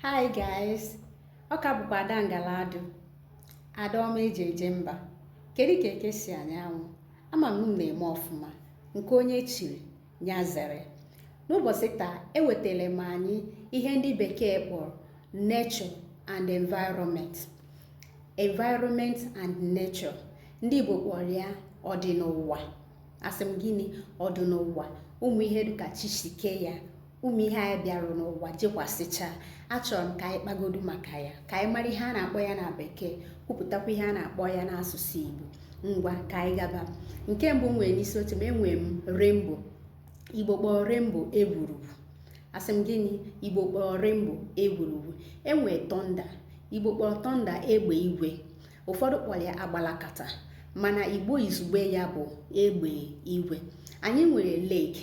Hi guys, ọ ka bụkwa Ada Ngaladu, Ada ọma eji eje mba. Kedu ka eke si anya anwụ? Ama m na-eme ọfụma nke onye chiri ya zere. N'ụbọchị taa ewetara m anyị ihe ndị bekee kpọrọ nature and environment. Environment and nature. Ndị Igbo kpọrọ ya ọdịnụwa. Asị m gịnị ọdịnụwa ụmụ ihe dịka chi si kee ya ụmụ ihe anyị bịarụ n'ụwa jekwasịcha achọrọ m ka anyị kpagodu maka ya ka anyị mara ihe a na-akpọ ya na bekee kwupụtakwa ihe a na-akpọ ya n'asụsụ igbo ngwa ka anyị gaba nke mbụ nwere n'isi oche m enwere m rainbow igbo kpọọ rainbow egwurugwu asị m gịnị igbo kpọọ rainbow egwurugwu e nwee thunder igbo kpọọ thunder egbe igwe ụfọdụ kpọrọ ya agbalakata mana igbo izugbe ya bụ egbe igwe anyị nwere lake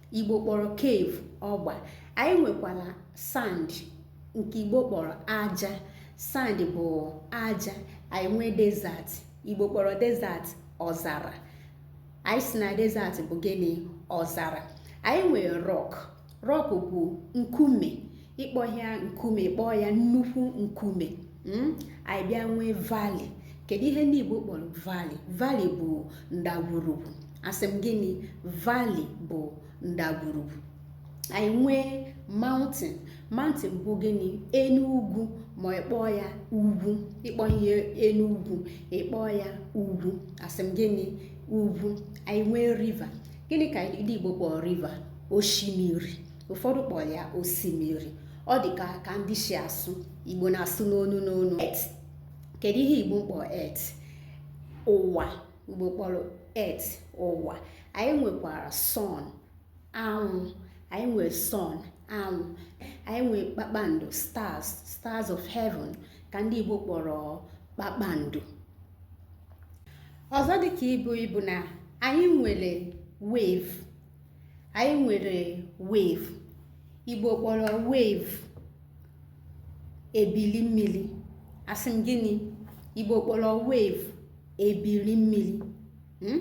Igbo kpọrọ cave ọgba anyị nwekwara sand nke Igbo kpọrọ aja sand bụ aja anyị nwee desert Igbo kpọrọ desert ọzara anyị sị na desert bụ gịnị ọzara anyị nwere rock rock bụ nkume ị kpọhị ya nkume ị kpọọ ya nnukwu nkume hmm? anyị bịa nwee valley kedu ihe ndị Igbo kpọrọ valley valley bụ ndagwurugwu asị m gịnị valley bụ ndagwurugwu anyị nwee mountain mountain bụ gịnị enu ugwu ma ị kpọọ ya ugwu ị kpọhị ya enu ugwu ị kpọọ ya ugwu asị m gịnị ugwu anyị nwee river gịnị ka ndị Igbo kpọrọ river osimiri ụfọdụ kpọrọ ya osimiri ọ dị ka ka ndị si asụ igbo na-asụ n'onu n'onu earth kedu ihe igbo kpọrọ earth ụwa igbo kpọrọ earth ụwa anyị nwekwara sun anwụ anyị nwere sun anwụ anyị nwere kpakpando stars stars of heaven ka ndị igbo kpọrọ kpakpando ọzọ dịka ibu ibu na anyị nwere wave anyị nwere wave igbo kpọrọ wave ebili mmiri asị m gịnị igbo kpọrọ wave ebili mmiri hmm?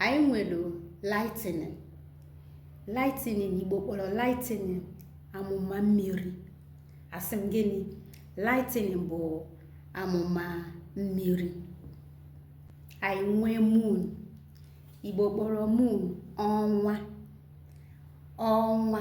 anyị nwere lightning lightning igbo kpọrọ lightning amụma mmiri asị m gịnị lightning bụ amụma mmiri anyị nwee moon Igbo kpọrọ moon ọnwa ọnwa